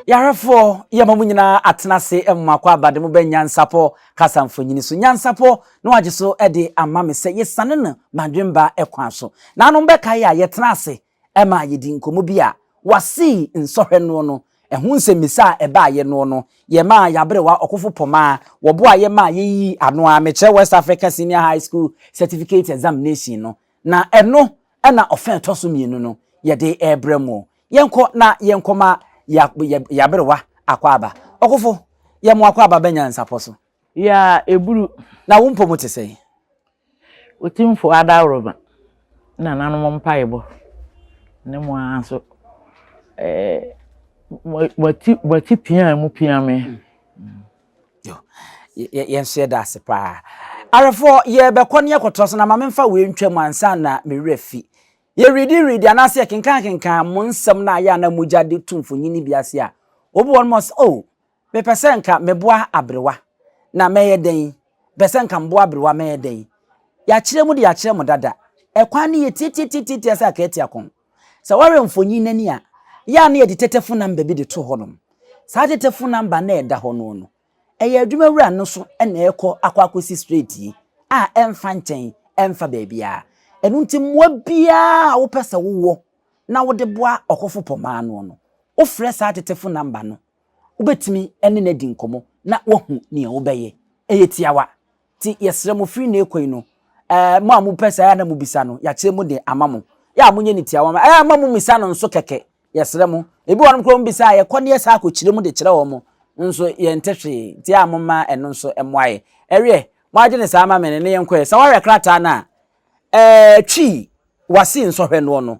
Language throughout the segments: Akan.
yarefoɔ yɛ ma mu nyinaa atena ase ɛmoma akɔ abade mu bɛ nyansapɔ kasa mfonyini so nyansapɔ na wagye so ɛde ama me sɛ yɛsane no madwemba ɛkwan so naanom bɛka yɛ a yɛtena ase Ɛmaa yɛdii nkɔmmɔ bi a wɔasii nsɔhwɛ noɔ no ho nsɛmmisa a ɛbaeɛ noɔ no, yɛmaa yɛaberewa ɔkofo pɔmaa wɔboaa yɛ maa yɛyii ano ara mekyerɛ West Africa Senior High School Certificate Examination no, na ɛno na ɔfã a ɛtɔ so mmienu no yɛde rebrɛ mo. Yɛnkɔ na yɛnkɔma yɛn aberewa Akwaaba. Ɔkofo, yɛmmoa Akwaaba bɛnyansapɔ so. Yaa ɛburu. Na wo mpɔ mu te sɛn? Otumfo adaworo ma nananom mpaebɔ, ne mo ara nso moati pia mu pia me. Yɛn nso yɛda ase paa. Awerɛfoɔ yɛbɛkɔ ne yɛkɔtoa so na ma memfa wei ntwa mu ansa na me werɛ fi. Yɛredi redi anaasɛ yɛkenkan kenkan mo nsɛm no a yɛ a na mogya de to mfonyin no bi ase a, obi wɔ no ma ɔsɛ oh Mepɛ sɛ nka meboa aberewa, na mɛyɛ dɛn? Mepɛ sɛ nka meboa aberewa, mɛyɛ dɛn? Yɛakyerɛ mu de yɛakyerɛ mo dada. Ɛkwan no yɛ tiatiatiatia sɛ akatia kɔn. Sɛ wohwɛ mfonyin no ani a, yɛ a na yɛde tetefo namba bi de to hɔnom. Saa tetefo namba no a ɛda hɔ no no, ɛyɛ adwumawura no so na ɛrekɔ akɔ akosi straight yi, a ɛmfa nkyɛn, ɛmfa baabiara. Ɛno nti mmoa biara a wopɛ sɛ wowɔ na wode boa ɔkofo pɔmaa no no, wofrɛ saa tetefo namba no Wobɛtumi ne no adi nkɔmmɔ na woahu nea wobɛyɛ. Ɛyɛ tiawa. Nti yɛsrɛ mo firi nnɛ rekɔ yi no, ɛɛ, mo a mopɛ saa a na mobisa no, yɛakyerɛ mu de ama mo. Yɛ a monyɛ no tiawa ma ɛɛ, mma mommisa no nso kɛkɛ. Yɛsrɛ mo. Ebi wɔ hɔnom koraa a wɔbisa a, yɛkɔ na yɛsan kɔkyerɛ mu de kyerɛ wɔn nso yɛnte hwee. Nti ɛyɛ a momma ɛno nso mmoa yɛn. Ɛweɛ, moagye no saa ama me ne no yɛnkɔɛ. Sɛ woahwɛ krataa no a, ɛɛ, Twi, Wasi nsɔhwɛ noɔ no,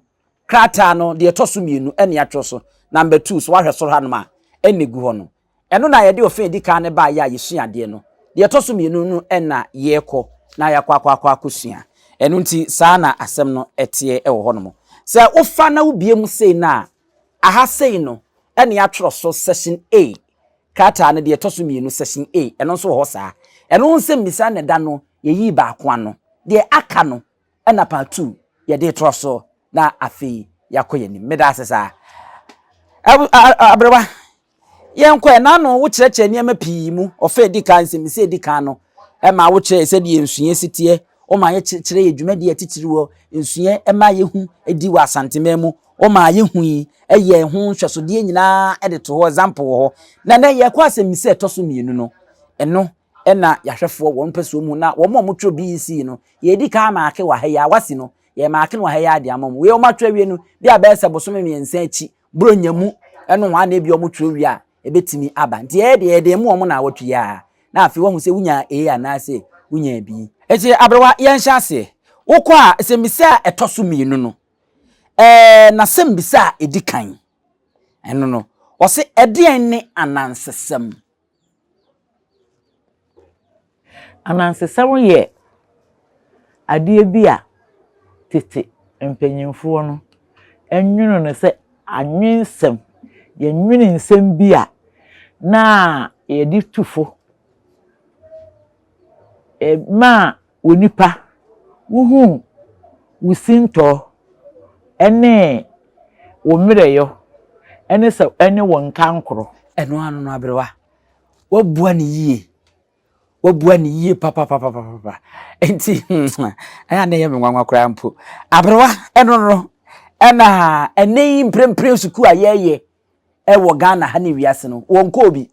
Krataa no deɛ ɛtɔ so mmienu na yɛatwerɛ so, number two, so woahwɛ soro hanom a, ɛna ɛgu hɔ no. Ɛno na yɛde ɔfã a ɛdi kan no baeɛ a yɛsua adeɛ no. Deɛ ɛtɔ so mmienu no na yɛrekɔ na yɛakɔ akɔ akɔ akɔsua. Ɛno nti saa na asɛm no teɛ wɔ hɔnom. Sɛ wofa na wobue mu sei no a, aha sei no na yɛatwerɛ so Section A, krataa no deɛ ɛtɔ so mmienu, Section A, ɛno nso wɔ hɔ saa. Ɛno ho nsɛmmisa na ɛda no, yɛyii baako ano. Deɛ aka no, Ɛna part two yɛde retorɔ so na afei yɛakɔ yɛn anim. Meda ase saa. Ab a a aberewa, yɛnkɔ ɛ. N'ano wokyerɛkyerɛ nneɛma pii mu. Ɔfa a edi kan, nsɛmmisa a edi kan no, ɛma wokyerɛɛ sɛdeɛ nsuyɛ si teɛ. Woma yɛkyerɛkyerɛɛ yɛn dwumadie a titiriw wɔ nsuyɛ ɛma yɛhu di wɔ Asanteman mu. Womaa yɛhui yɛɛ ho nhwɛsodeɛ nyinaa de too hɔ, example wɔ hɔ. Na nnɛ yɛrekɔ asɛmmisa a ɛtɔ so mmienu no. Ɛno Ɛna yɛahwɛfoɔ wɔn mpɛsoɔ mu na wɔn a wɔtwerɛ BEC no yɛredi kan amaake wɔ ha yi ara, wasi no, yɛremaake no wɔ ha yi ara de ama wɔn. Wei wɔn atwerɛ awie no, bi a bɛyɛ sɛ bosome mmiɛnsa akyi, Buronya mu nohoa na ebia wɔtwerɛ wie a ɛbɛtumi aba. Nti yɛn deɛ yɛde ma wɔn nnawɔtwe yi ara na afei wɔahu sɛ wonyaa A anaasɛ wonyaa B. Enti aberewa, yɛnhyɛ aseɛ. Wokɔ a, asɛmmisa a ɛtɔ so mmienu no, ɛɛ n'asɛmmisa a ɛdi kan, ɛno no, wɔse, Ɛdeɛn ne anansesɛm? Anansesɛm yɛ adeɛ bi a tete mpanimfoɔ no nwonoo no sɛ anwensɛm. Yɛnwene nsɛm bi a na yɛde tu fo maa Onipa, wuhu wo sintɔ ne wo mmerɛwyɔ ne sɛ ɛne wo nkankoro. Ɛno ano no aberewa, woabua no yie, woabua no yie papapapapapa. Enti ɛyɛ a na ɛyɛ me nwanwa koraa mpo. Aberewa, ɛno no, ɛna ɛnɛ yi mprempren sukuu a yɛreyɛ wɔ Ghana ha ne wiase no, wɔnkɔɔ bi.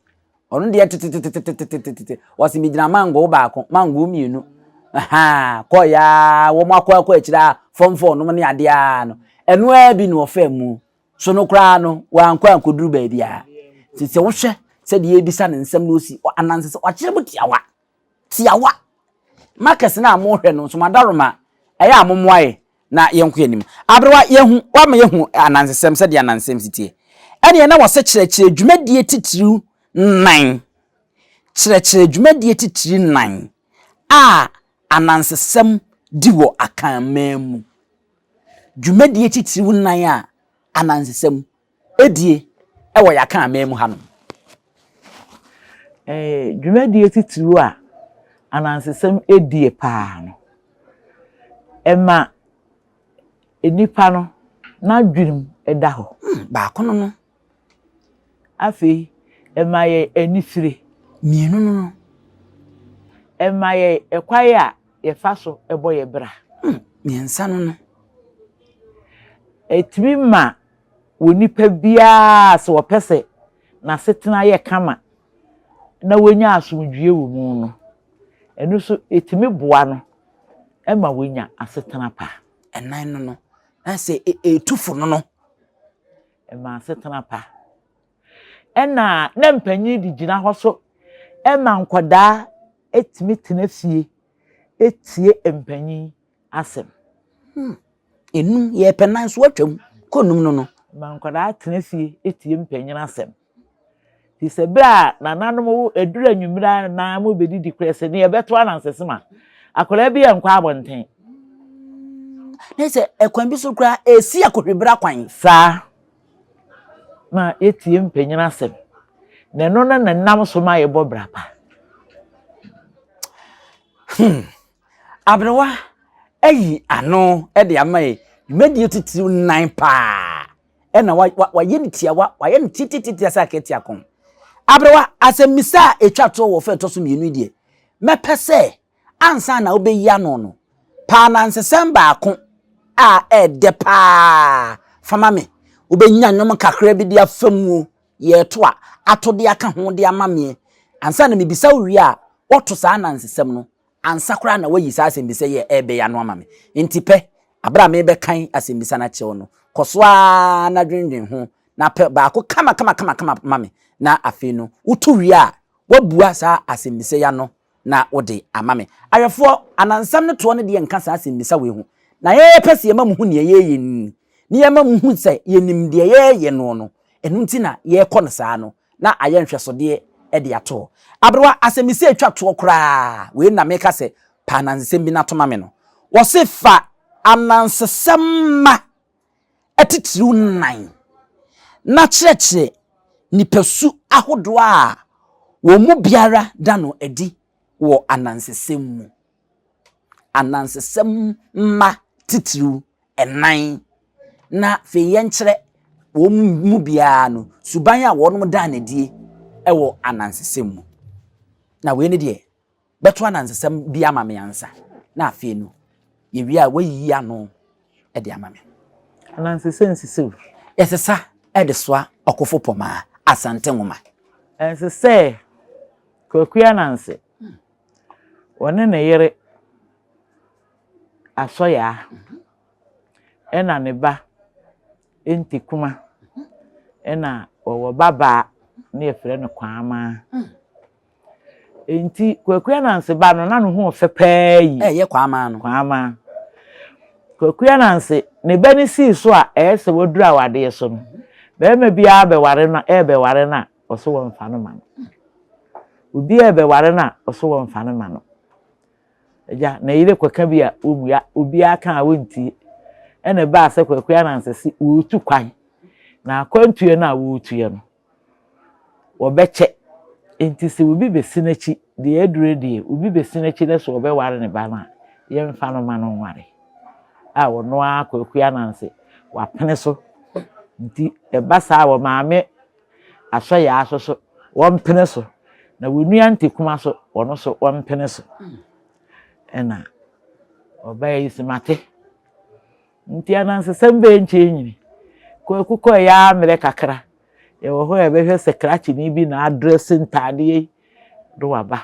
Ɔno deɛ tetetetetetetetete, wɔse megyina mangoo baako, mangoo mmienu, ahaa, kɔɔeɛ ara, wɔn akɔ akɔ akyire a, fam fam nom ne adeɛ ara no, ɛno ara bi na ɔfaa mu. So no koraa no, wankɔ ankɔduru baabiara. Nti sɛ wohwɛ sɛdeɛ yɛrebisa no nsɛm no, ɔsi anansesɛm, wakyerɛ mu tiawa. tiawa markers no a mo hwɛ no nso mo adaroma ɛyɛ a mo mmoa yɛ na yɛn kɔ yɛn anim aberewa yɛn hu wama yɛn hu anansesɛm sɛdeɛ anansesɛm si tie ɛneɛ na wɔsɛ kyerɛkyerɛ dwumadie titiriw nan kyerɛkyerɛ dwumadie titiri nan a anansesɛm di wɔ akanman mu dwumadie titiriw nan a anansesɛm die wɔ yɛn akanman mu hanom. Dwumadie titiriw a anansesɛm die paa no, ɛma nnipa no n'adwenem da hɔ. Hmm, baako no no. Afei, ɛma yɛ anifire. Mmienu no no. Ɛma yɛ ɛkwan a yɛfa so bɔ yɛ bra. Hmm, mmiɛnsa no no. Ɛtumi ma wɔ nipa biara a sɛ ɔpɛ sɛ n'asetena yɛ kama na wanya asomdwoeɛ wɔ mu no, ɛno nso ɛtumi boa no ma wanya asetena pa. Ɛnan no no, na sɛ ɛtu fo no no. Ɛma asetena pa. Ɛna na mpanyin de gyina hɔ so ɛma nkwadaa ɛtumi tena fie ɛtie mpanyin asɛm. Hmm. Enum, yɛpɛ nan so atwa mu kɔ num no no. Ma nkwadaa tena fie tie mpanyin asɛm. Te sɛ bere a nananom wo aduru anwummere a na mobɛdidi korɛ sɛ ne yɛbɛto anansesem a, akwadaa bi yɛ nkɔ abɔnten. Ne sɛ ɛkwan bi so koraa ɛsi akɔhwibra kwan. Saa ma yɛtie mpanyin asɛm. Na ɛno no na nam so ma yɛbɔ bra pa. Hmm. Aberewa ayi ano de ama yɛ dwumadie titiriw nnan paa ɛna wayɛ no tiawa wayɛ no titititi sɛ akɛti akɔn aberewa asɛmmisa a ɛtwa toɔ wɔ fɛ ɛtɔ so mmienu deɛ mɛpɛ sɛ ansa na wobɛyi ano no paa na nsesɛm baako a ɛɛdɛ paa fama me wobɛnya nnwom kakra bi de afa muo yɛɛto a ato de aka ho de ama meɛ ansa na mebisa wo wie a wɔto saa na nsesɛm no Ansa koraa na woayi saa asɛmmisa yi a ɛrebɛn ano ama me. Enti pɛ, bere a merebɛkan asɛmmisa no akyerɛ wo no, kɔ so ara na dwennwen ho, na pɛ baako kamakamakama ma me, na afei no, woto wie a, woabua saa asɛmmisa yi ano na wode ama me. Ayɛfoɔ, anansɛm no toɔ no deɛ nka saa asɛmmisa wei ho, na yɛpɛ sɛ yɛma mohu deɛ yɛreyɛ no ni, na yɛma mohu sɛ yɛnim deɛ yɛreyɛ noɔ no, ɛno nti na yɛrekɔ no saa no. na ayɛ nhwɛsodeɛ de atoɔ. Aberewa, asɛmmisa a ɛtwa toɔ koraa, wei no na meka sɛ, Pɛ anansesɛm bi na to ma me no. Wɔse fa anansesɛm mma atitiriw nnan na kyerɛkyerɛ nipasu ahodoɔ a wɔn mu biara da no adi wɔ anansesɛm mu. anansesɛm mma titiriw nnan, na afei yɛnkyerɛ wɔn mu biara no suban a wɔnom daa no adie wɔ anansesɛm mu. Na wei ne deɛ, bɛto anansesɛm bi ama me ansa, na afei no, yɛwie a wayiyi ano de ama me. Anansesɛm sisiw. Yɛsesa de soa ɔkofo pɔmaa, Asante Nwoma. Ɛnsɛ sɛ Kwaku Ananse Ɔne ne yere Asɔyaa ɛna ne ba Ntikuma ɛna ɔwɔ ba baa ne yɛfrɛ no Kwaamaa. Nti Kwaku Ananse ba no na ne ho ɔfɛ paa yi. Ɛyɛ Kwaamaa no. Kwaamaa. Kwaku Ananse ne ba no sii so a ɛyɛ sɛ waduru awadeɛ so no, bɛrima biara bɛware no ɛɛbɛware no a Ɔse wɔnfa no ma no. Obi a ɛbɛware no a, ɔse wɔnfa no ma no. Agya, ne yere kɔka bi a wɔmmua, obiara ka a wɔntie. Ɛna ɛbaa sɛ Kwaku Ananse se wɔretu kwan, na akwantuiɛ no a wɔretuiɛ no, wɔbɛkyɛ. Enti sɛ obi bɛsi n'akyi, deɛ adure deɛ, obi bɛsi n'akyi dɛ sɛ ɔbɛware ne ba no a, yɛmfa no ma no nware. A ɔno ara Kwaku Ananse, wapene so. Nti ɛba saa a, wɔmaame. Asɔ yaa so so wɔmpene so, na wo nua ntekuma so ɔno so wɔmpene so. Ɛna ɔbaa yi se mate. Nti anansesɛm bɛɛ nkyɛn nyini. Kwaku kɔ ɛyɛ ara mmerɛ kakra. Yɛwɔ hɔ a yɛbɛhwɛ sɛ krakyeni bi na adrɛse ntaadeɛ yi de waba.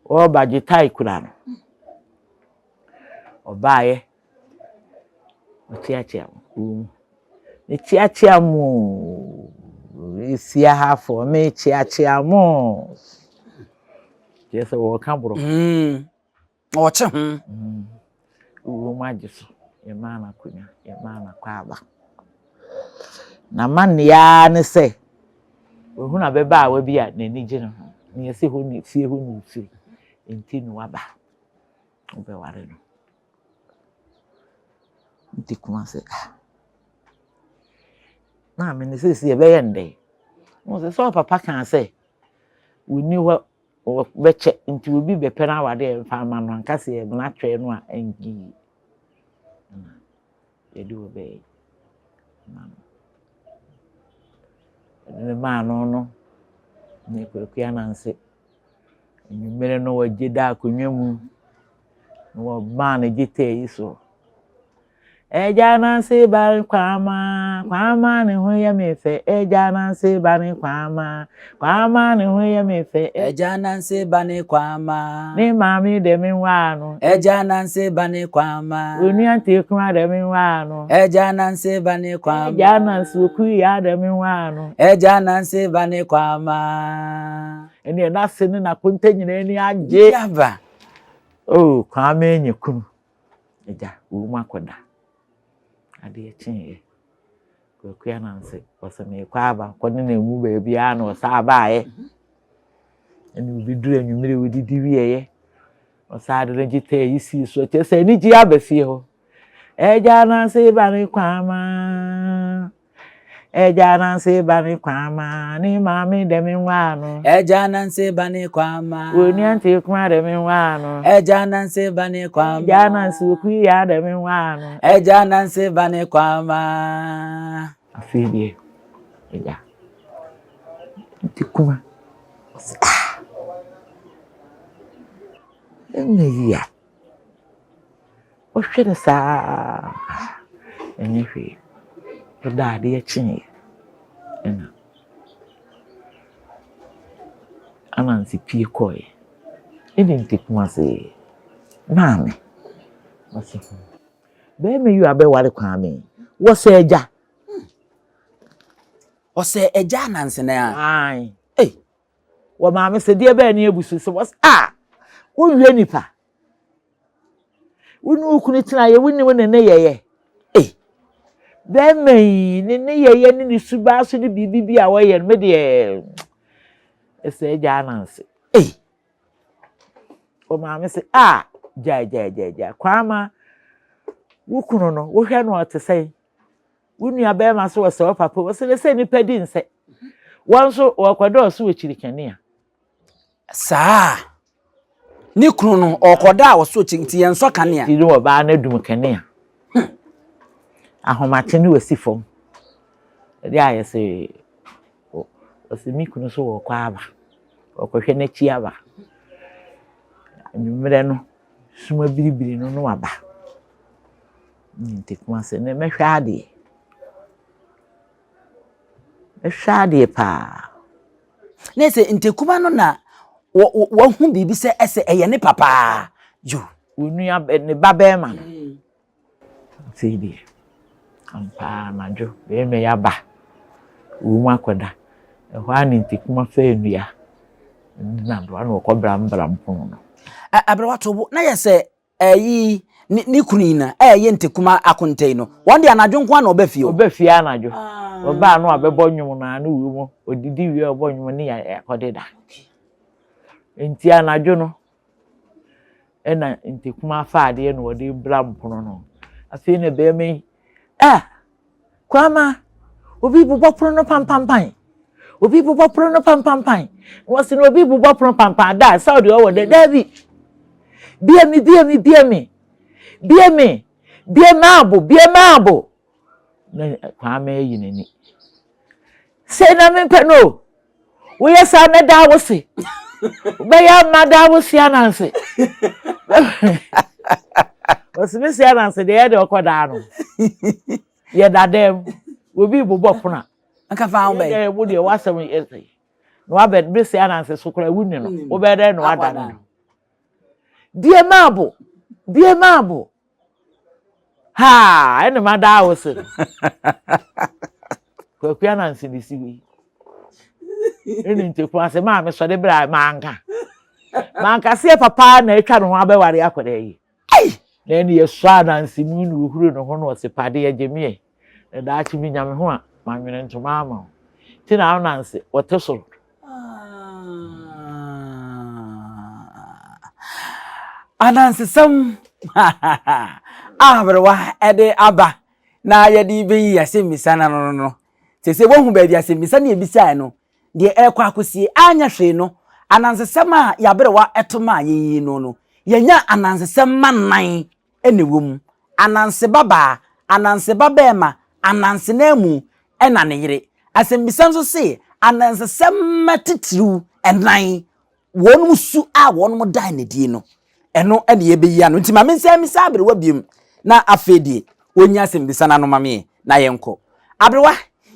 Ɔreba gye tae kura no. Ɔbaeɛ. Metseatsea mo kurow mu. Metseatsea mo oo. Merehyia ha fo, metseatsea mo oo. Kyerɛ sɛ wɔreka borɔfo. Wɔkye ho. Kurom agye so. Yɛmaa no akonnwa, yɛmaa no akwaaba. N'amanneɛ ara ne sɛ, wahunu ababaawa bi a n'ani gye ne ho, nea ɛsɛ hɔ na fie hɔ na ofiri, enti na waba. Wobɛware no. Mete koma sɛ ah. Maame no seesei ɛbɛyɛ no dɛn? Wɔn sɛ sɛ ɔpapa kaa sɛ wɔnni hɔ wɔbɛkyɛ nti obi bɛpɛ no awadeɛ mfa ama no anka sɛ yɛmena twɛn no a ɛnyɛ yie. yɛde wo bɛyɛ ma no ɛde no maa no no ne kwaku ananse anwummere no wɔgye da akonnwa mu na wɔmaa no gye tɛɛ yi so ɛgya ananse ba ne kwama kwama ne ho yɛ me fɛ ɛgya ananse ba ne kwama Kwaamaa ne ho yɛ me fɛ. Agya Nanse ba ne Kwaamaa. Ne maame dɛ me nwaa no. Agya Nanse ba ne Kwaamaa. Onua Nteakuma dɛ me nwaa no. Agya Nanse ba ne Kwaamaa. Agya Nanse Okuyaa dɛ me nwaa no. Agya Nanse ba ne Kwaamaa. Ɛneɛ n'ase ne n'akonta nyinaa ani agye. Yaba! Oh, Kwaamaa anya kunu. Agya, wowom akɔda. Adeɛ kyeeɛ. Kwaku Ananse, ɔse meekɔ aba kɔ ne na mu baabiaa na ɔsaa baayɛ. Ɛne obi duru anwummere wɔdidi wieɛ. Ɔsaa de ne gyeta yi sii so kyerɛ sɛ anigye aba fie hɔ. Agya Ananse ba ne kwama. Agya Ananse ba ne kwama. Ne maame dɛ me nwaa no. Agya Ananse ba ne kwama. Onua nte kuma dɛ me nwaa no. Agya Ananse ba ne kwama. Agya Ananse okui ya dɛ me nwaa no. Agya Nancy ba ne Kwama. Afei deɛ ɛya nti kuma ɔsi ah ɛnyɛ yia ɔhwɛ no saa ah ɛnyɛ hwee ɔda adeɛ kyeeɛ ɛna anansi pie kɔɛ ɛne nti kuma se maame Ɔse ho. Bɛɛma yi abɛware Kwame. Wɔsɛ agya. Ɔsɛ agya anansene a. Ae. Ei. Wɔ maame sɛ deɛ bɛɛ ne abusu sɛ wɔsɛ a. Wowie nipa. Wo ne wo kunu tena yɛ wonim ne ne yɛyɛ. Ei. Bɛɛma yi ne ne yɛyɛ ne ne subaa so ne biribi bi a wɔyɛ no me deɛ ɛsɛ agya ananse. Ei. O maame se, ah, gyae, gyae, gyae, gyae. Kwaama, wo kunu no, wohwɛ no ɔte sɛn? Wo nua bɛrima so ɔsɛ wo papa, ɔsɛ ne sɛ nipa di nsɛ. Wɔn nso wɔkɔdɔɔso wɔ kyirikani a. Saa. Ne kunu no, ɔkɔda a ɔso kyi nti yɛn sɔ kanea. Ti ne ɔbaa no adum kanea. Hmm. Ahomakye ne wɔsi fam. Ɛde ayɛ sɛ Ɔse me kunu so ɔkɔ aba, ɔkɔhwɛ n'akyi aba. Anwummerɛ no, sum abiribiri no na waba. Nti Kumase no mɛhwɛ adeɛ. Mɛhwɛ adeɛ paa. Na ɛsɛ Ntakuma no na wahu biribi sɛ ɛsɛ ɛyɛ ne papa. Yo. Onua ne ba bɛrima no. Sei deɛ ampa ara anadwo bɛrima yi aba wom akɔda. Ɛhɔ ara ne ntakuma faa nnua ne n'adowa na wɔkɔbrambram pono no. Aberewa to bo na yɛ sɛ ɛyi ne ne kunu yi na ɛyɛ ntakuma akonta yi no. Wɔn deɛ anadwo nko ara na wɔba fie o. Wɔba fie anadwo. Wɔba a na wɔabɛbɔ nnwom no ara ne wom. Wɔdidi wie a wɔbɔ nnwom ne yɛ akɔdeda. Enti anadwo no Ɛna ntakumaa fa adeɛ na ɔde bra mpono no afei na bɛrima yi ah kwama obi bobɔ pono no pampampan obi bobɔ pono no pampampan wɔsi na obi bobɔ pono pampam da sɛ ɔde ɔwɔ dɛ daabi bie mi bie mi bie mi bie mi bie maabo bie maabo. na Kwame ayi n'ani. Sei na mempɛ no o! Woyɛ saa mɛda wo se. Wobɛyɛ a mada wo se ananse. Ɔse me se ananse deɛ yɛde ɔkɔ daa no. Yɛda dɛm, obi rebobɔ pono a. Nka fa ho bɛyɛ. Wo deɛ w'asɛm yɛ sei. Na wabɛ me se ananse so koraa wonni no. Wobɛyɛ dɛn na wada no? Bie maabo, bie maabo. Haa ɛne ma daa wo se Kwaku Anansi ne si wi. Ɛne nteku ase maa me sɔde bra manka. Manka seɛ papa na atwa ne ho abɛware akɔda yi. Na ɛne yɛsɔ Anansi mu na ohuru ne ho na ɔse padeɛ gye meɛ. Na daakye minya me ho a, manwene ntoma ama wo. Nti na Ananse wɔte soro. Anansesɛm a aberewa de aba na yɛde bɛyi asɛmmisa no ano no, sɛ sɛ woahu baabi asɛmmisa ne ɛbisaeɛ no, deɛ ɛrekɔ akɔsie anyɛ hwee no, anansesɛm a yɛaberewa ɛto ma yɛyi no no, yɛnya anansesɛm ma nan na ɛwɔ mu, Ananse babaa, Ananse babarima, Ananse no amu na ne yere. Asɛmmisa nso se, Anansesɛm mma titiriw nnan, wɔn su a wɔda no adi no, ɛno na yɛbɛyi ano. Nti ma mensan mmisa aberewa bio na afei deɛ ɔnyi asɛmmisa no ano ma me na yɛnkɔ. Aberewa,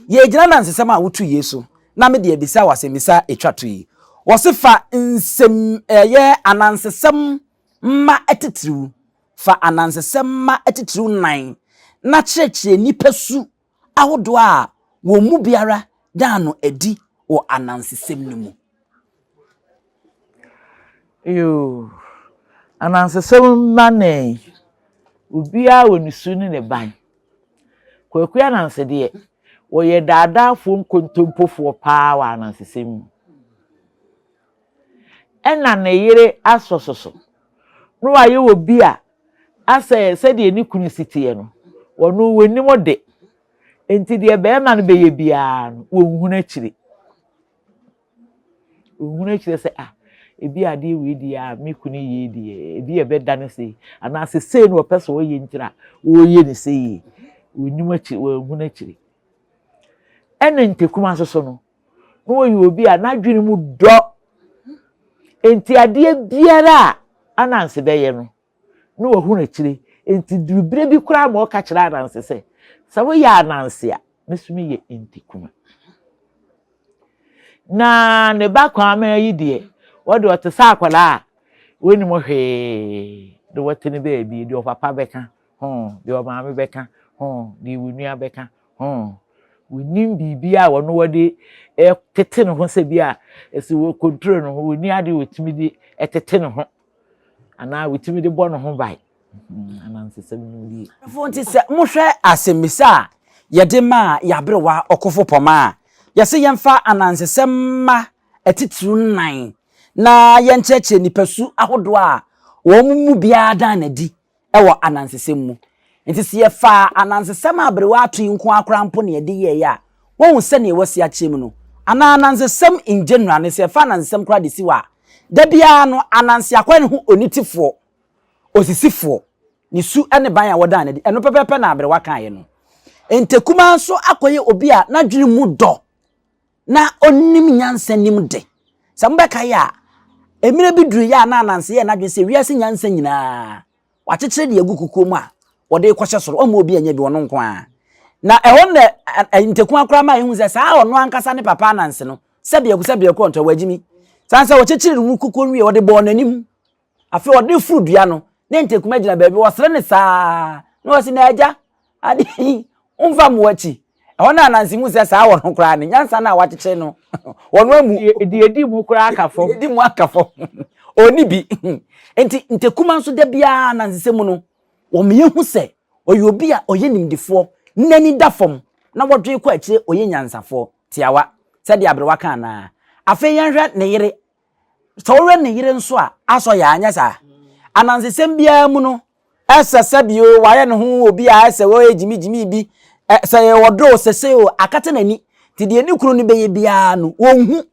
yɛgyina anansesɛm a wotu yei so na mede abisa wo asɛmmisa a ɛtwa to yi. Wɔse fa nsɛm ɛyɛ anansesɛm mma atitiriw, fa anansesɛm mma atitiriw nnan, na kyerɛkyerɛ nipasu ahodoɔ a wɔn mu biara daa no adi wɔ anansesɛm no mu. Yoo, anansesɛm mma nnan yi, obiara wɔ ne su ne ne ban. Kwaku Ananse deɛ, ɔyɛ daadaafoɔ nkontompofoɔ paa wɔ anansesɛm mu. Ɛna ne yere asɔ soso. Na wayɛ obi a asɛ sɛdeɛ ne kunu si teɛ no, ɔno ɔnnim de. Enti deɛ barima no bɛyɛ biara no, ɔnhunu akyire. Ɔnhunu akyire sɛ, ah, ebi adeɛ wei deɛ a me kunu yei deɛ, ebi a ɛbɛda no sei, anaasɛ sei na ɔpɛ sɛ ɔyɛ nti na ɔreyɛ no sei. Ɔnnim akyire, ɔnhunu akyire. Ɛna ntakuma nso so no, na ɔyɛ obi a n'adwene mu dɔ. Enti adeɛ biara a Ananse bɛyɛ no, na wahunu akyire. Enti duru berɛ bi koraa ma ɔka kyerɛ Ananse sɛ, sɛ woyɛ Ananse a, me nso meyɛ Ntikuma. Na ne ba Kwaamaa yi deɛ, ɔde ɔte sɛ akwadaa a ɔnnim hwee de wɔte ne baabi, deɛ ɔpapa bɛka Hon, deɛ ɔmaame bɛka, hon, deɛ wonua bɛka, hon. Wonim biribi a wɔn wɔde tete ne ho sɛ bi a ɛsɛ wɔ konturo ne ho, wɔni adeɛ wɔtumi de tete ne ho anaa wɔtumi de bɔ ne ho ban. Hmm, anansesɛm no die. Ɛfo nti sɛ mohwɛ asɛmmisa a yɛde maa yɛaberewa ɔkofo pɔma a, yɛse yɛmfa anansesɛm mma atitiriw nnan na yɛnkyerɛkyerɛ nipasu ahodoɔ a wɔn mu biara dan n'adi wɔ anansesɛm mu. Enti sɛ yɛfa anansesɛm a aberewa ato yi nko ara koraa mpo na yɛde yɛeɛ a, woahu sɛdeɛ wɔasi akyerɛ mu no? Anaa anansesɛm in general no, sɛ yɛfa anansesɛm koraa de si hɔ a, da biara no ananse akɔyɛ ne ho onitefoɔ, osisifoɔ, ne su ne ban a wɔdaa no adi. Ɛno pɛpɛɛpɛ na aberewa kaeɛ no. Ntɛkumaa nso akɔyɛ obi a n'adwene mu dɔ. na onim nyansa nim de. Sɛ mobɛkae a, mmerɛ bi duruiɛ a na Ananse yɛɛ n'adwene sɛ wiase nyansa nyinaa wakyekyere de agu kukuo mu a wɔde rekɔhyɛ soro, ɔmma obi nyɛ bi, ɔno nko ara. Na ɛhɔ na Ntakua koraa maa yɛhu sɛ saa ɔno ankasa ne Papa Ananse no, sɛdeɛ sɛdeɛ korɔ nto a wagyimi. Sane sɛ wɔkyekyeree no mu kukuo wieɛ, wɔde bɔɔ n'anim Afei ɔde foro dua no, ne ntakuma gyina baabi, wɔsere ne saa, na wɔsi na agya, ade yi, womfa mmoa akyi. Ɛhɔ no ananse mu sɛ saa wɔ no koraa no, nyansa no a wakyekyere no, wɔ no amu. Deɛ edi mu koraa aka fam. Edi mu aka fam. Ɔni bi. Nti ntakuma nso da biara anansesɛ mu no, wɔn yɛ hu sɛ ɔyɛ obi a ɔyɛ nimdefoɔ, n'ani da fam, na wɔdwe kɔ akyire ɔyɛ nyansafoɔ, tiawa, sɛdeɛ aberewa ka anaa. Afei yɛnhwɛ ne yere Sɛ ɔwɛn ne yere nso a, asɔ yɛ anyɛ saa. Anansesɛm biara mu no, ɛsɛ sɛ bio wayɛ ne ho obi a ɛsɛ wɔyɛ gyimigyimi bi. Sɛ yɛ ɔdɔ o, sɛ sɛ o, akata n'ani. Nti deɛ ne kunu no bɛyɛ biara no, ɔnhu.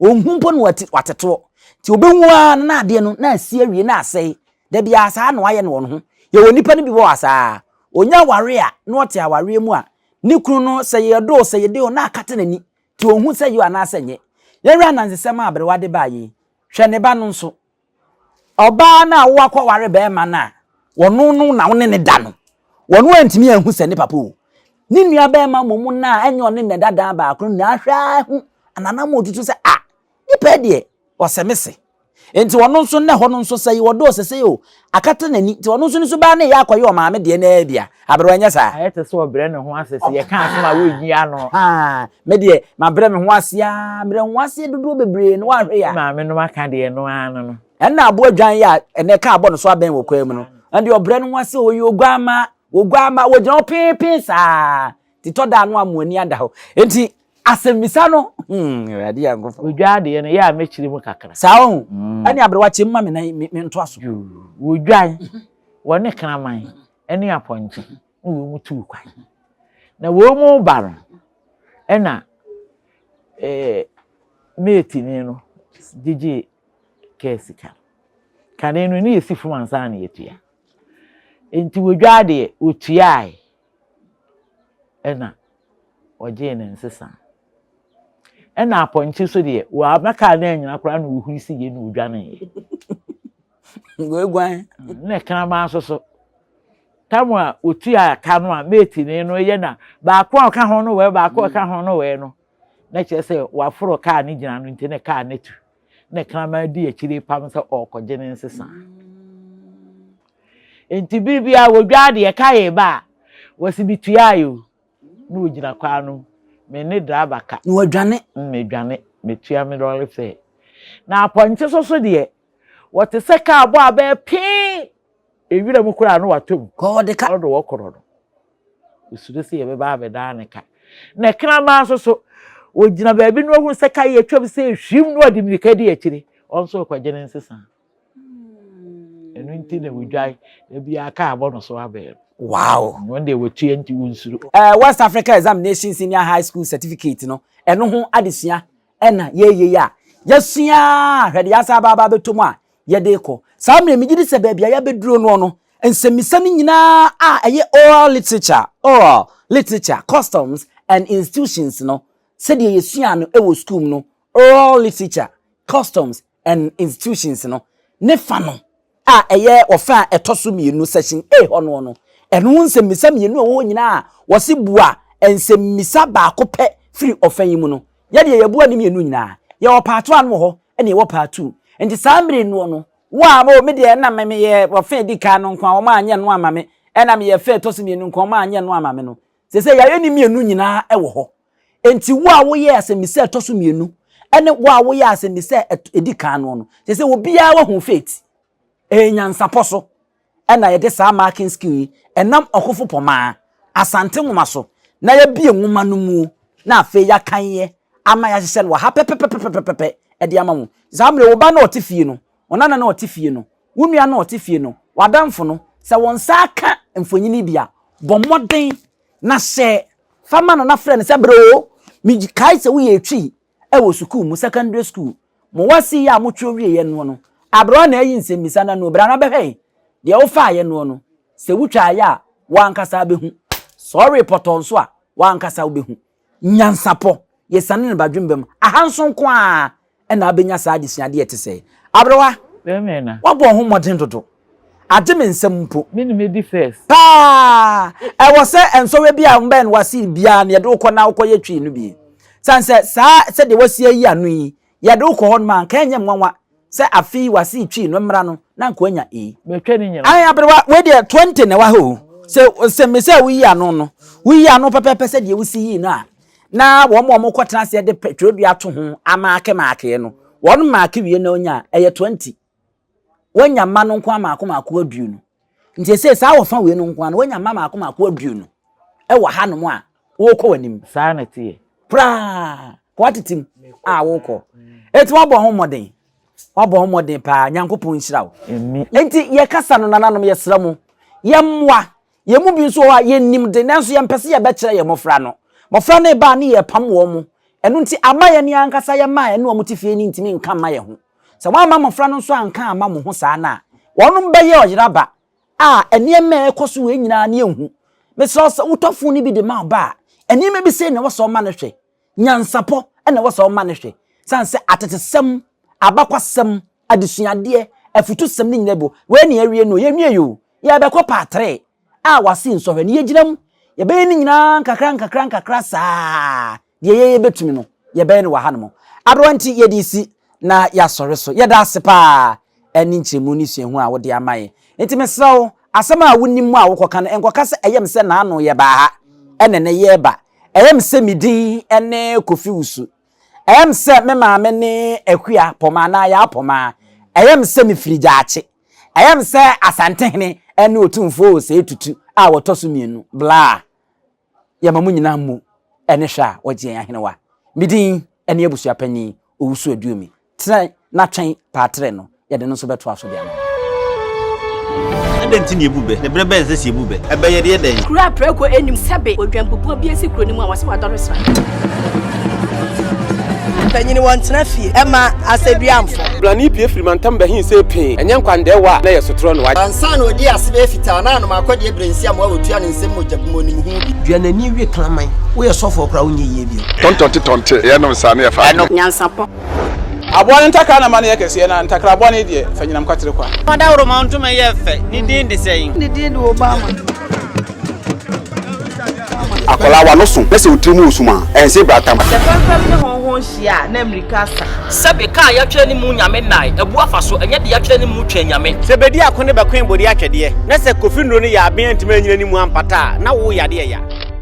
Ɔnhu mpo na watetoɔ. Nti ɔbɛhu ara no na adeɛ no na asi awie na asɛe. Da biara saa na wayɛ no wɔn ho. Yɛwɔ nnipa no bi wɔ hɔ a saa. Ɔnya awareɛ a, na ɔte awareɛ mu a, ne kunu no sɛ yɛ ɔdɔ o, sɛ yɛ dɛ o, na akata n'ani. Nti onhu sɛ yo anaasɛ nyɛ. Yɛnhwɛ anansesɛm a aberewa de baeɛ yi. Hwɛ ne ba no nso. Ɔbaa no a woakɔware barima no a ɔno no na wo ne no da no, ɔno antumi anhu sɛ ne papa o. Ne nuabarima mmom no a ɛnyɛ ɔne no na ɛda dan baako no na ahwɛ ara ahu anaa na ama ɔtutu sɛ ah, Nipa yi deɛ, ɔsɛ me se. Nti ɔno nso nnɛ hɔ no nso sɛ yewɔ dɔɔ sesei o, akata n'ani. Nti ɔno nso ne suban no reyɛ akɔyɛ ɔmaame deɛ no ara bi a. Aberewa, ɛnyɛ saa? Ayɛ te sɛ ɔbrɛ ne ho ase sɛ yɛka asɛm a worenyi ano. Haa, me deɛ, mabrɛ me ho ase ara, brɛ wo ho ase dodoɔ bebree no woanhwɛ yɛ a. Maame no aka deɛ no ara no no. Ɛnna aboa dwan yɛ a ɛnnɛ kaa bɔ ne so abɛn wɔ kwan mu no, ɛndeɛ ɔbrɛ ne ho ase o, ɔyɛ oguammaa, oguammaa, ɔgyina hɔ pee pee saa. titɔ daa no a mo ani ada hɔ nti asɛmmisa no hmm awurade yɛ nkofo. wodwa adeɛ no yɛ a mɛkyiri mu kakra. saa ɔho hmm. ɛne aberewa kyɛm ma me na me ntoa so. wodwan wɔne kraman ɛne apɔnkye na wɔn mu tuu kwan na wɔn mu ba no ɛna ɛɛ meetini no gyegye kɛɛ sika kane no ne yɛsi fam ansa na yɛtua nti wodwa adeɛ wɔtuae na ɔgyee ne nsesa. Ɛna apɔnkye so deɛ wɔabɛkaa no anyina koraa na ɔhuri si yie na ɔdwaneeɛ. Wɔaguan. Na kraman so so. Tam a ɔtua ka no a meetini no yɛ na baako a ɔka ho no wɛɛ baako a ɔka ho no wɛɛ no na kyerɛ sɛ wɔaforo kaa no gyina no nti ne kaa no atu. na kraman di akyire repam sɛ ɔrekɔgye ne nsesa. Nti bere bi a wɔdwa adeɛ ɛka yɛ ba a, wɔsi bi tua ayɛ o, na wɔgyina kwan no, me ne driver ka. Na wɔadwane. Mm, medwane, metua me lɔre fɛ. Na apɔnkye so so deɛ, wɔte sɛ kaa bɔ abɛɛ pee. Ewira mu koraa no watɔ mu. Kɔ ɔde ka. Ɔde wɔ korɔ no. Osuro sɛ yɛbɛba abɛdaa ne ka. Na kraman nso so, ogyina baabi na ohun sɛ ka yi atwam sɛ ehwim na ɔde mmirika di akyiri. Ɔno nso rekɔgye ne nsesa. Ɛno nti na wodwae. Da biara ka abɔ no so abɛn no. Wow! Wɔn deɛ wɔtua nti wonsuro. Eh, West Africa Examination Senior High School Certificate no, ɛno ho adesua ɛna yɛreyɛ yi a, yɛasua a, hwɛ deɛ yɛasan aba abɛtɔ mu a, yɛde rekɔ. Saa mmerɛ yi, megye di sɛ baabi a yɛabɛduro noɔ no, nsɛmmisa no nyinaa a ɛyɛ oral literature, oral literature, customs and institutions no, sɛdeɛ yɛsuaa no wɔ sukuu mu no, oral literature, customs and institutions no, ne fa no a ɛyɛ ɔfa a ɛtɔ so mmienu, section A hɔ noɔ no, ɛno ho nsɛmmisa mmienu a ɛwɔ hɔ nyinaa a wɔse bua nsɛmmisa baako pɛ firi ɔfa yi mu no, Yɛ deɛ yɛboa ne mmienu nyinaa. Yɛwɔ part one wɔ hɔ ɛna yɛwɔ part two. Nti saa mmere noɔ no wo a oh me deɛ ɛna me meyɛ wɔ fɛ di kan no nkoa wɔn anyɛ no ama me ɛna meyɛ fɛ ɛtɔ so mmienu nkoa wɔn anyɛ no ama me no sese yɛayɛ ne mmienu nyinaa ɛwɔ hɔ. Nti wo a woyɛ asɛmmisa ɛtɔ so mmienu ɛne wo a woyɛ asɛmmisa ɛdi kan noɔ no sese obiara wahu fate ɛyɛ nyansapɔ so. na yɛde saa marking skill yi nam ɔkofo pɔmaa, Asante nwoma so na yɛabue nwoma no mu na afei yɛakan yɛ ama yɛahyehyɛ no wɔ ha pɛpɛpɛpɛpɛpɛpɛ de ama mo. Saa mmerɛ wo ba no a ɔte fie no, wo nana no a ɔte fie no, wo nua no a ɔte fie no, w'adamfo no, sɛ wɔn nsa aka mfonini bi a, bɔ mmɔden na hyɛ fa ma no na frɛ no sɛ, Bro, mekae sɛ woyɛ etwi. wɔ sukuu mu, secondary school, mo wɔse yɛ a mo twerɛ wieɛ noɔ no, aberɛ ɔna ayi nsɛmmisa no ano, brana bɛhwɛ yɛ deɛ wo faeɛ noɔ no, sɛ wo twaa yɛ a, wo ankasa bɛhu, sɛ ɔwee pɔtɔɔ nso a, wo ankasa wo bɛhu. Nyansapɔ, yɛ sane no ba dwemba mu, aha nso nko ara na abɛnya saa adesuadeɛ ɛte sɛɛ. Aberewa, woabɔ wo ho mmɔden dodo, Agye me nsam mpo. Me ne medi first. Paa! Ɛwɔ sɛ nsɔhwɛ bi a mbɛn w'asen biara no yɛde wo kɔ na wokɔyɛ twi no bi. San sɛ saa sɛdeɛ w'asi ayi ano yi, yɛde wo kɔ hɔ nom a, anka ɛnyɛ nwanwa sɛ afe yi w'asen twi no mmra no na anka wanya E. Matwa ne nyinaa. Ae aberewa, wei deɛ 20 na ɛwɔ ha o. Sɛ ɔsɛ me sɛ woyi ano no, woyi ano pɛpɛɛpɛ sɛdeɛ wosi yii no a, na wɔn a wɔkɔtena aseɛ de twerɛdua ato ho amaakemaake no, wɔn maake wie na wonya a, ɛyɛ 20. Wanya mma no nkoa mmaako mmaako aduonu. Nti ɛsɛ saa wɔfa wei no nkoa no wanya mma mmaako mmaako aduonu ɛwɔ ha nom a wɔkɔ w'anim. Saa na ɛteɛ. Koraa kɔ atete mu a wɔkɔ. Eti wabɔ ho mmɔden wabɔ ho mmɔden paa nyankopɔn nhyira wo. Nti yɛkasa no nananom yɛsrɛ mo yɛmmoa Yɛn mu bi nso wɔ hɔ a, yɛnnim de, nanso yɛmpɛ sɛ yɛbɛkyerɛ yɛn mmɔfra no. Mmɔfra no reba a, na yɛrepam wɔn. Ɛno nti, amma yɛn yɛn ankasa yɛn mma a yɛne wɔn te fie no ntumi nka mma yɛn ho. Sɛ wɔamma mmɔfra no nso anka amma mo ho saa no a, wɔnom bɛyɛ ɔyeraba a nneɛma a ɛrekɔ so wei nyinaa no yɛnhu. Mesrɛ wo, sɛ wotɔ fon no bi de ma wo ba a, nneɛma bi sei na ɛwɔ sɛ ɔma no hwɛ. Nyansapɔ na ɛwɔ sɛ ɔma no hwɛ, sane sɛ atetesɛm, abakwasɛm, adesuadeɛ, afutusɛm ne nyina bo. Wei na yɛawie no o, yɛnwiei o, yɛrebɛkɔ part three a wɔase nsɔhwɛ no, yɛgyina mu. Yɛbɛyɛ ne nyinaa nkakra nkakra nkakra saa, deɛ yɛyɛ bɛtumi no, yɛbɛyɛ no wɔ hanom. Aberwa nti yɛde resi na yɛasɔre so. Yɛda ase paa, ne nkyerɛmu ne suahu a wode ama yɛn. Enti mesrɛ wo, asɛm a wonim mu a wokɔka no, nkɔka sɛ ɛyɛ me sɛ naano yɛbaa ha, ɛna ɛnnɛ yɛreba. Ɛyɛ me sɛ me din ne Kofi Wusu. Ɛyɛ me sɛ me maame ne Akua Pɔmaa anaa Yaa Pɔmaa. Ɛyɛ me sɛ mefiri Gyaakye. Ɛyɛ me sɛ Asantehene ne Otumfoɔ Osei Tutu a wɔtɔ so mmienu. Blah. yɛma mo nyinaa mmu ne hwɛ a wɔgye yɛn ahenewa. Me din ne abusua panyin Owusu-Aduomi. Tena na twɛn Paatere no, yɛde no nso bɛtoa so de ama wo. Dɛn nti na yebu bɛ? Ne bere bɛn na ɛsɛ sɛ yebu bɛ? Ɛbɛyɛ yɛn dɛn? Kuro a prako nnim sɛbe odwanbubuo bi asi kuro no mu a wɔse wadɔre sra. Mpanyin wɔ ntena fie ɛma asɛduamfo. Brane pie firi mantam bɛhen sɛ pee. Ɛnyɛ nkwandaɛwa a na ɛyɛ sotorɔ no. Ansa na ɔdii ase bɛyɛ fitaa na anom akɔdeɛ berɛ nsi amoa ɔtua ne nsam mogya bu mu ɔnim ho bi. Dua n'ani we kraman. Woyɛ sɔfoɔ koraa wonyɛ yie bio. Tɔntɔnte tɔnte yɛ nom saa na yɛ fa adwene. Nyansapɔ. Aboa no ntakra na ma no yɛ kɛseɛ na ntakra aboa no yi deɛ fa nyinam kwatere kwa. Fa dawuroma ntoma yɛ fɛ, ne din de sɛn? Ne din de Obama. Akwadaa wa no so na sɛ otiri mu wɔ sum a, ɛnse bra tam. Sɛ fɛmfɛm ne hɔnhɔn hyia a, na mmirika asa. Sɛbe kaa yɛatwerɛ ne mu nyame nnae, abu afa so, ɛnyɛ deɛ yɛatwerɛ ne mu twɛn nyame. Sɛ bedi ako ne bɛkoe bode atwɛdeɛ, na sɛ kofi nnuro no yɛ aben antumi anyina ne mu ampata a, na wo yade ɛya.